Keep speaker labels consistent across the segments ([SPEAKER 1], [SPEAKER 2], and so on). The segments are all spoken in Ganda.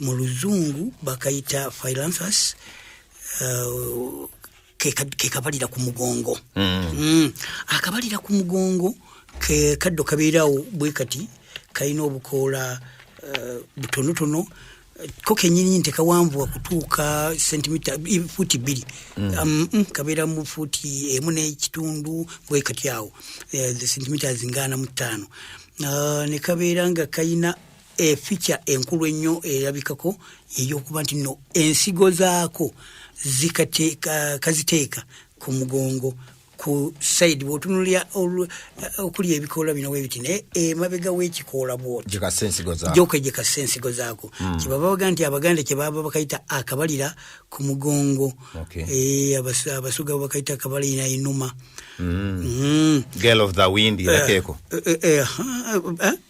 [SPEAKER 1] mu luzungu bakayita philanthus uh, kekabalira ke ku mugongo mm. Mm. akabalira ku mugongo ke kaddo kabeerawo bwe kati kalina obukoola uh, butonotono ko kenyini nti kawanvuwa kutuuka sentimita fuuti bbiri mm. um, mm, kabeera mu fuuti emu n'ekitundu bwekati awo eh, sentimiters ngaana mu ttaano uh, ne kabeera nga kalina efeature enkulu ennyo erabikako yeyokuba nti no ensigo zaako kaziteeka ku mugongo ku side bwotunulira okuli ebikoola bino webiti naye emabega wekikoola bwotyokwejekasa ensigo zaako hmm. kyebaba baga nti abaganda kyebaba bakayita akabalira ku mugongo eh, abasuga bakayita akabalira enuma
[SPEAKER 2] hmm. hmm.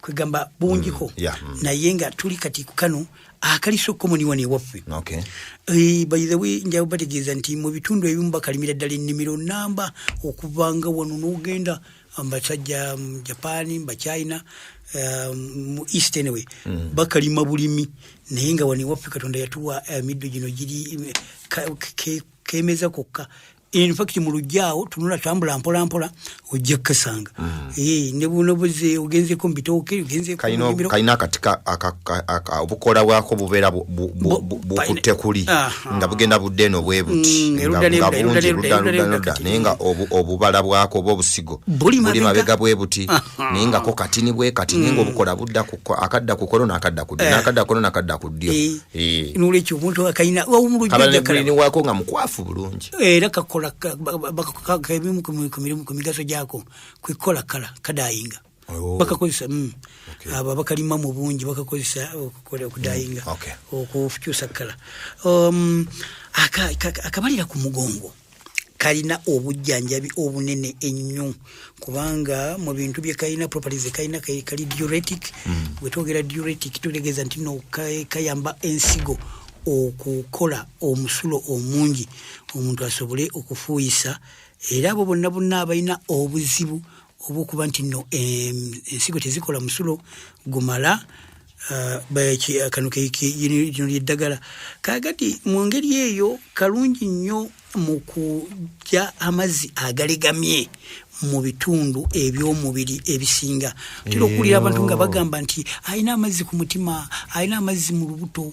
[SPEAKER 1] kwegamba bungiko mm, yeah, mm. naye nga tuli kati kukano akaliso okomoniwa newaffe okay. Eh, by the way njawo bategeeza nti mu bitundu ebimu bakalimira ddala ennimiro namba okuvanga wano n'ogenda mbasajja mu japan mbachina um, mu um, east anyway mm. bakalima bulimi naye nga wano ewaffe katonda yatuwa emiddo eh, gino giri eh, kemeza kokka infact mu lujja awo tunula tambula mpola mpola ojja kukasanga mm. eh, ne buno buze ogenzeko mu bitooke ogenzekalina akati
[SPEAKER 2] obukola bwako bubeera bukutte kuli nga bugenda budde eno bwe buti mm, nga bungi ludaludaluda naye nga obubala bwako oba obusigo buli mabega bwe buti naye ngako katini bwe kati naye nga mm. obukola budda akadda ku kolo nakadda ku ddyo eh. nakadda kolo nakadda ku ddyo eh. Eh. nolwekyo omuntu
[SPEAKER 1] akalina wawumulujjajakalinewako nga mukwafu
[SPEAKER 2] bulungi era kakola
[SPEAKER 1] ebimu ku mirimu ku migaso gyako kwekola kala kadayinga oh. bakakozesa mm. abo abakalima mu bungi bakakozesa okukola okudayinga mm, okukyusa kala um, akabalira ku mugongo kalina obujjanjabi obunene ennyo kubanga mu bintu bye kalina properties kalina kali diuretic mm. bwe twogera diuretic tutegeeza nti no kayamba ensigo okukola omusulo omungi omuntu asobole okufuuyisa era abo bonna bonna abalina obuzibu obwokuba nti no ensigo tezikola musulo gumala uh, uh, kano lino lyeddagala kagati mu ngeri eyo kalungi nnyo mu kujja amazzi agalegamye mu bitundu eby'omubiri ebisinga tera okuwulira abantu nga bagamba nti alina amazzi ku mutima alina amazzi mu lubuto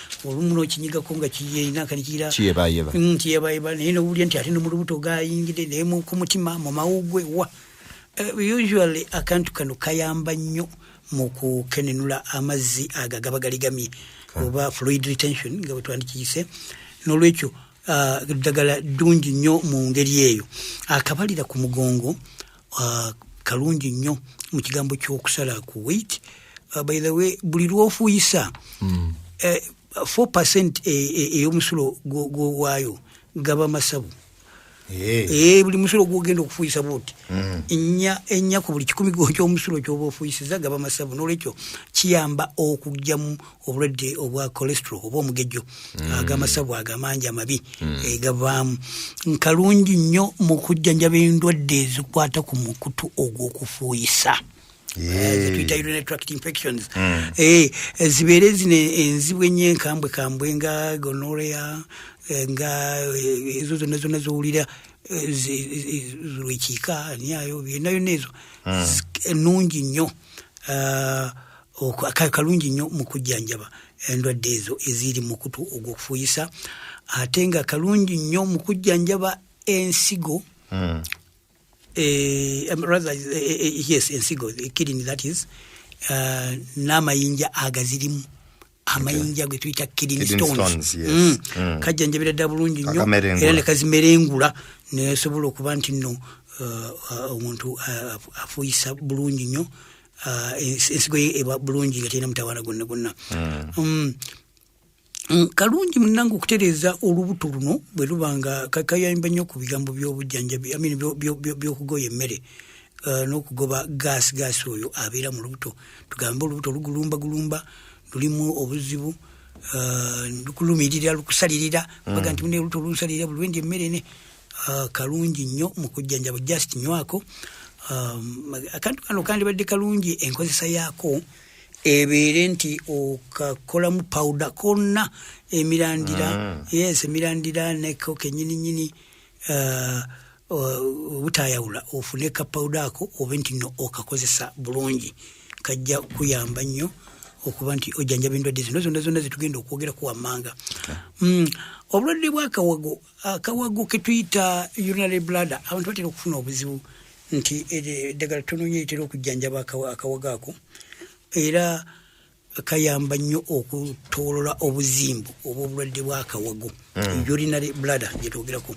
[SPEAKER 1] olumu nokinyigako nga kiyeinakankirakyebayeba mm, naye nowulira nti ate nomulubuto gayingide naye ku mutima mu mawugwe wa eh, usually akantu kano kayamba nnyo mu kukenenula amazzi ago agaba galigamye oba fluid retention nga bwetwandikiyise nolwekyo ah, ddagala ddungi nnyo mu ngeri eyo akabalira ku mugongo uh, kalungi nnyo mu kigambo ky'okusala ku wait uh, ah, by the way buli lw'ofuuyisa mm. eh, 4 percent eh, eh, ey'omusulo gwowaayo gaba masabu eh. eh, buli musulo gwogenda okufuuyisa buti mm. ennya ku buli kikumi kyomusulo kyoba ofuuyisiza gaba masabu nolwekyo kiyamba okugyamu obulwadde obwa cholesterol oba omugejjo mm. agamasabu ago amangi amabi mm. eh, gavaamu nkalungi nnyo mu kujjanjaba endwadde ezikwata ku mukutu ogw'okufuuyisa zetuyita eh, urinary tract infections mm. eh, zibeere zino enzibu ennyo enkambwe kambwe nga gonorea nga ezo zonna zonna zowulira lwekiika ani ayo byonna yonna ezo ennungi nnyo ah, kalungi nnyo mu kujjanjaba endwadde ezo eziri mukutu ogwokufuuyisa ate nga kalungi nnyo mu kujjanjaba ensigo hmm. eh, um, eh, eh, yes ensigo kidini that is n'amayinja agazirimu amayinja ge tuyita kidney Kidney stones stones, yes. Mm. Mm. kajjanjabira ddala bulungi nnyo Akamerengula. era ne kazimerengula nesobola okuba nti nno uh, uh, omuntu uh, afu- afuuyisa bulungi nnyo uh, ens- ensigo ye eba bulungi nga terina mutawaana gwonna gwonna Mm. Mm, kalungi munange okutereeza olubuto luno bwe luba nga ka- kayamba nnyo ku bigambo by'obujjanjabi I mean, byo- byo- byo- by'okugoya emmere uh, n'okugoba gaasi gaasi oyo abeera mu lubuto tugambe olubuto lugulumba gulumba lulimu obuzibu uh, lukulumirira lukusalirira mm. baga nti mune olubuto lunsalirira buli wendi emmere ne uh, kalungi nnyo mu kujjanjaba just nywako um, akantu kano kandibadde kalungi enkozesa yaako ebeere nti okakolamu pawuda konna emirandira mm. yes emirandira neko kenyininyini uh, uh, obutayawula ofune kapawuda ako obe nti no okakozesa bulungi kajja kuyamba nnyo okuba nti ojjanjaba endwadde zino zonna zonna zetugenda okwogerako wammanga mm, obulwadde bwakawago akawago ketuyita urinary bladder abantu batera okufuna obuzibu nti eddagala tononyo etera okujjanjaba akawago ako era kayamba nnyo okutolola obuzimbu obwobulwadde bwakawago mm. urinary bladder gyetwogerako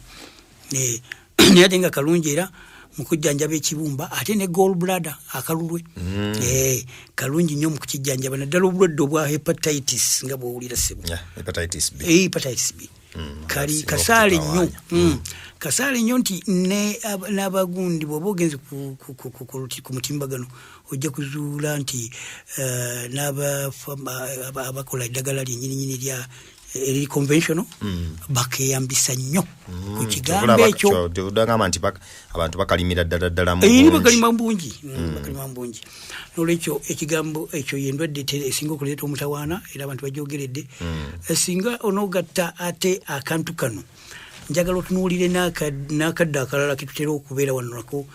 [SPEAKER 1] naye ate nga kalungi era mukujjanjaba ekibumba ate ne gol bladder akalulwe mm. eh, kalungi nnyo mukukijjanjaba naddala obulwadde obwa hepatitis nga bwowulira sebo eh, hepatitis b mm, kali kasaale nnyo mm. mm. kasaale nnyo nti n'abagundi bwoba ogenze ku mutimbagano ojja kuzuula nti eh, n'abakola eddagala lyenyininyini lya eri conventional mm. bakeyambisa nnyo mm. ku kigambo ekyo
[SPEAKER 2] abantu bakalimira ddala ddala eh, bakalima bungi
[SPEAKER 1] mm, mm. bakalima bungi nolwekyo ekigambo ekyo yendwadde esinga okuleeta omutawaana era abantu bajogeredde mm. eh, singa onogatta ate akantu kano njagala otunuulire n'akadde akalala ketutera okubeera wanonako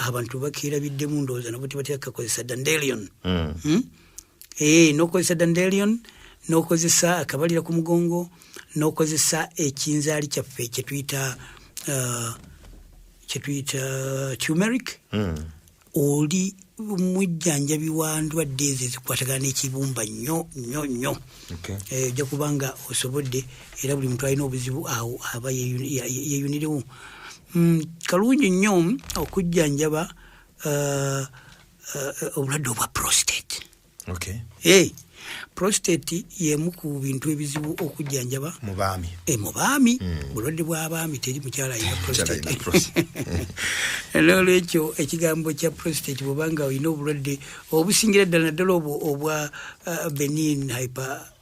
[SPEAKER 1] abantu bakeerabiddemu ndowooza nabo tebatera kakozesa dandelion hmm? ee eh, nokozesa dandelion nokozesa akabalira ku mugongo nokozesa ekinzaali kyaffe kyetuyita uh, kyetuyita tumeric hmm. oli mujjanjabi wa ndwadde ezo ezikwatagana n'ekibumba nnyo nnyo nnyo eh, ojja kuba nga osobodde era buli muntu alina obuzibu awo aba yeyunirewo mm, kalungi nnyo okujjanjaba uh, uh, obulwadde obwa prostate okay. hey, prostate yemu ku bintu ebizibu okujjanjaba mubaami e, mubaami mm. bulwadde bw'abaami teri mukyala alina prostate nolwekyo ekigambo kya prostate bwobanga olina obulwadde obusingira ddala naddala obwo obwa uh, benin hyper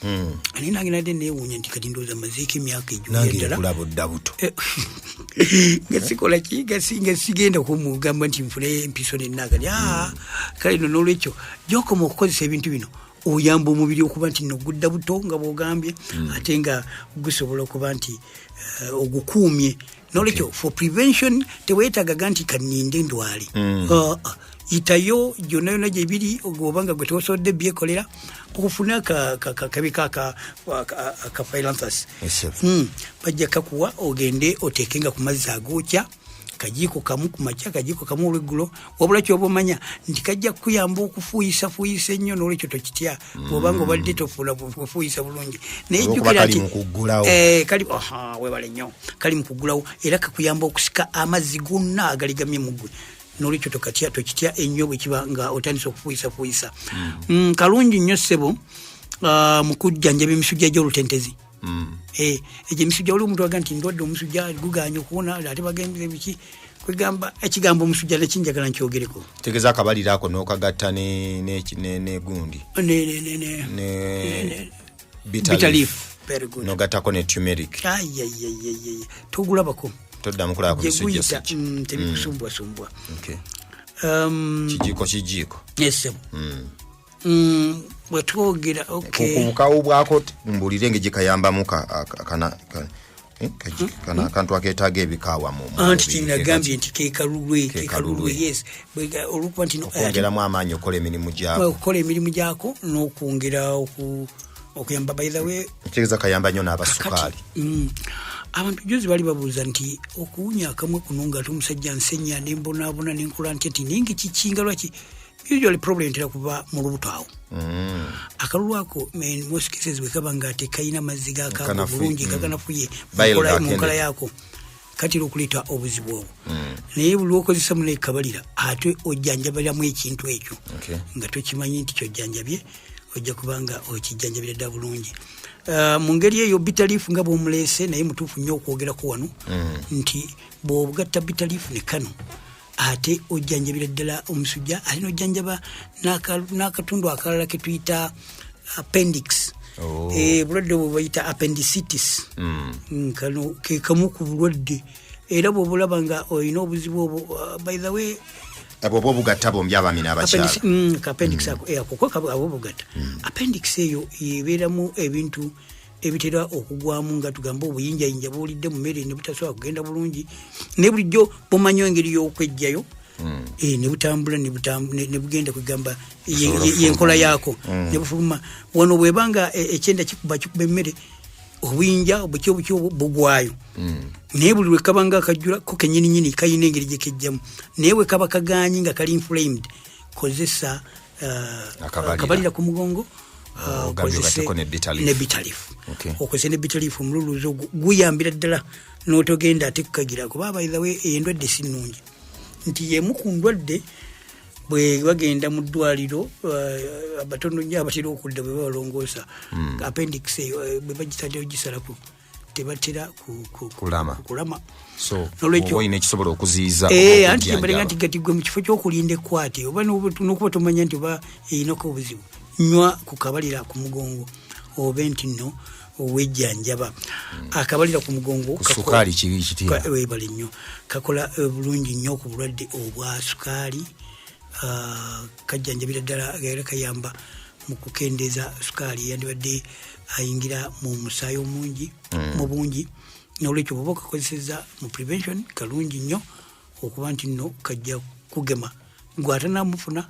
[SPEAKER 1] Hmm. ani nange nadde newuunya nti kati ndowooza mazeeko emyaka ejokulabudda
[SPEAKER 2] buto eh,
[SPEAKER 1] nga sikola ki nga sigenda kumugamba nti nfune empiso nenaagali ah, hmm. kale no nolwekyo gyokoma okukozesa ebintu bino oyamba omubiri okuba nti nogudda buto nga bwogambye hmm. ate nga gusobola okuba nti eh, ogukuumye nolwekyo for prevention tewetagaga nti kaninde ndwali mm. uh, uh, yitayo gyonna yonna gyebiri oba nga gwe tewasobodde byekolera ofune akabi kakaphilanthus hmm. bajja kakuwa ogende oteeke nga ku mazzi agookya kajiiko kamu ku makya kajiiko kamu olweggulo wabula kyoba omanya nti kajja kukuyamba okufuuyisafuuyisa ennyo nolwekyo tokitya bwobanga mm. obadde tofuula kufuuyisa bulungi naye jjukira nti eh, kali webale nnyo kali mu kuggulawo era kakuyamba okusika amazzi gonna agaligamye mu gwe nolwekyo tokatya tokitya ennyo bwekiba nga otandisa okufuuyisafuuyisa mm. Mm, kalungi nnyo ssebo ah, mu kujjanjaba emisujja gy'olutentezi mm. eh, egyo emisujja waliwo omuntu aga nti ndwadde omusujja guganye okuwona ate bagendera ebiki kwegamba ekigambo omusujja nekinjagala nkyogereko tegeza akabaliro ako
[SPEAKER 2] nokagatta negundi nogatako ne tumeric togulabako
[SPEAKER 1] toddamu kulaba kuyita
[SPEAKER 2] mm, tebikusumbuwasumbwa
[SPEAKER 1] mm. um,
[SPEAKER 2] kijiiko kijiiko yesebo mm.
[SPEAKER 1] mm, bwetwogera obukawo
[SPEAKER 2] bwako mbulire nga gyekayambamu eh, kana akantu aketaaga ebikaawa anti kinagambye
[SPEAKER 1] nti kekalulwe kekalulwe yes olwokuba nti okwongeramu amaanyi okukola
[SPEAKER 2] emirimu gyako okukola emirimu
[SPEAKER 1] gyako n'okwongera okuyamba by the way kitegeeza kayamba nnyo
[SPEAKER 2] n'abasukaali mm.
[SPEAKER 1] abantu juzi bali babuuza nti okuwunya akamwe kuno nga ate omusajja nsenya nembonaabona nenkola nti ati naye nga kikinga lwaki usually problem tera kuba mu lubuto awo mm. akalulu ako most cases bwekaba nga tekayina mazzi gakaga bulungi mm. kaganafuye mu nkola yako katera okuleeta obuzibu obwo mm. naye lwokozesa muna ekabalira ate ojjanjabaliramu ekintu ekyo nga tokimanyi nti kyojjanjabye ojja kubanga okijjanjabira dda bulungi uh, mu ngeri eyo bitaliifu nga bwomuleese naye mutuufu nnyo okwogerako wano mm. nti bwobugatta bitaliifu ne kano ate ojjanjabira ddala omusujja ate nojjanjaba n'akatundu akalala ke tuyita appendix oh. eh, obulwadde bwe bayita appendicitis hmm. mm, kano ke kamu ku bulwadde era bwobulaba nga olina obuzibu obwo uh, by the way bwoba obugatta
[SPEAKER 2] bombi abami n'abakyalaapendix mm, mm.
[SPEAKER 1] eh, ako kuko abo obugatta appendix eyo yebeeramu ebintu ebitera okugwamu nga tugamba obuyinjayinja buwulidde mu meere ne butasobola kugenda bulungi ne bulijjo bumanyo engeri y'okwejjayo hmm. eh, ne butambula ne bugenda kwegamba yenkola yaako hmm. ne bufuluma wano bweba nga eh, ekyenda kikuba kikuba emmere obuyinja obuki obuki bugwayo hmm. naye buli lwekaba nga akajjula ko kenyininyini kalina engeri gyekejjamu naye bwekaba kaganyi nga kali inflamed kozesa uh, akabalira ku mugongo uh, okozese nebitalifu omululuzi ogwo guyambira ddala notogenda ate kukagira kuba abaithawe endwadde si nungi nti yemu ku ndwadde bwe bagenda mu ddwaliro uh, abatono nyo abatera okudda bwe babalongoosa hmm. appendix eyo eh, bwe bagisalaogisalaku tebatera kulama
[SPEAKER 2] olina ekisobola okuziiza eh, anti kyembalega nti
[SPEAKER 1] gati gwe mu kifo kyokulinda ekwate oba nokuba tomanya nti oba erinako obuzibu nywa ku kabalira ku mugongo obe nti no owejjanjaba hmm. akabalira ku mugongo
[SPEAKER 2] webale nnyo
[SPEAKER 1] kakola eh, bulungi nnyo ku bulwadde obwa sukaali ah, kajjanjabira ddala era kayamba mu kukendeeza sukaali eyandibadde ayingira mu musaayi omungi mm. mu bungi nolwekyo bwoba okakozeseza mu prevention kalungi nnyo okuba nti nno kajja kugema gwatanamufuna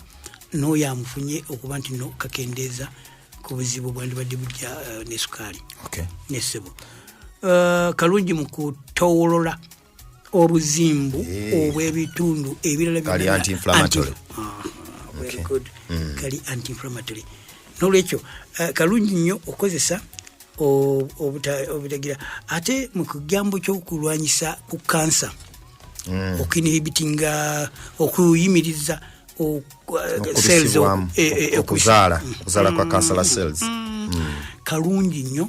[SPEAKER 1] n'oyo amufunye okuba nti nno kakendeeza ku buzibu bwandibadde bujja uh, ne sukaali okay. ne ssebo uh, kalungi mu kutowolola obuzimbu eh. obw'ebitundu ebirala kali anti-inflammatory ah, mm. nolwekyo eh, kalungi nnyo okukozesa obutagira ate mu kigambo ky'okulwanyisa ku kansa mm. okinhibitinga okuyimiriza okuzaala
[SPEAKER 2] eh, eh, eh, kwa mm. kansala cells mm. kalungi
[SPEAKER 1] nnyo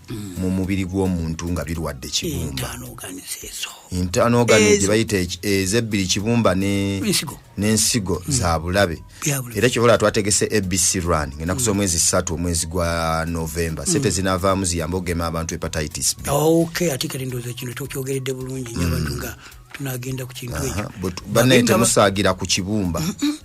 [SPEAKER 2] mu mubiri gw'omuntu nga birwadde kibumba intanogani gye bayita ezebbiri kibumba n'ensigo mm. za bulabe era kyobola twategese abc run ngenda kuza mm. omwezi ssatu omwezi gwa novemba sente mm. zinavaamu ziyamba okugema abantu hepatitis b oh, ate kale ndooza
[SPEAKER 1] kino tokyogeredde bulungi nyabantu nga
[SPEAKER 2] tunagenda
[SPEAKER 1] ku kintu ekyo bannaye
[SPEAKER 2] temusaagira
[SPEAKER 1] ku kibumba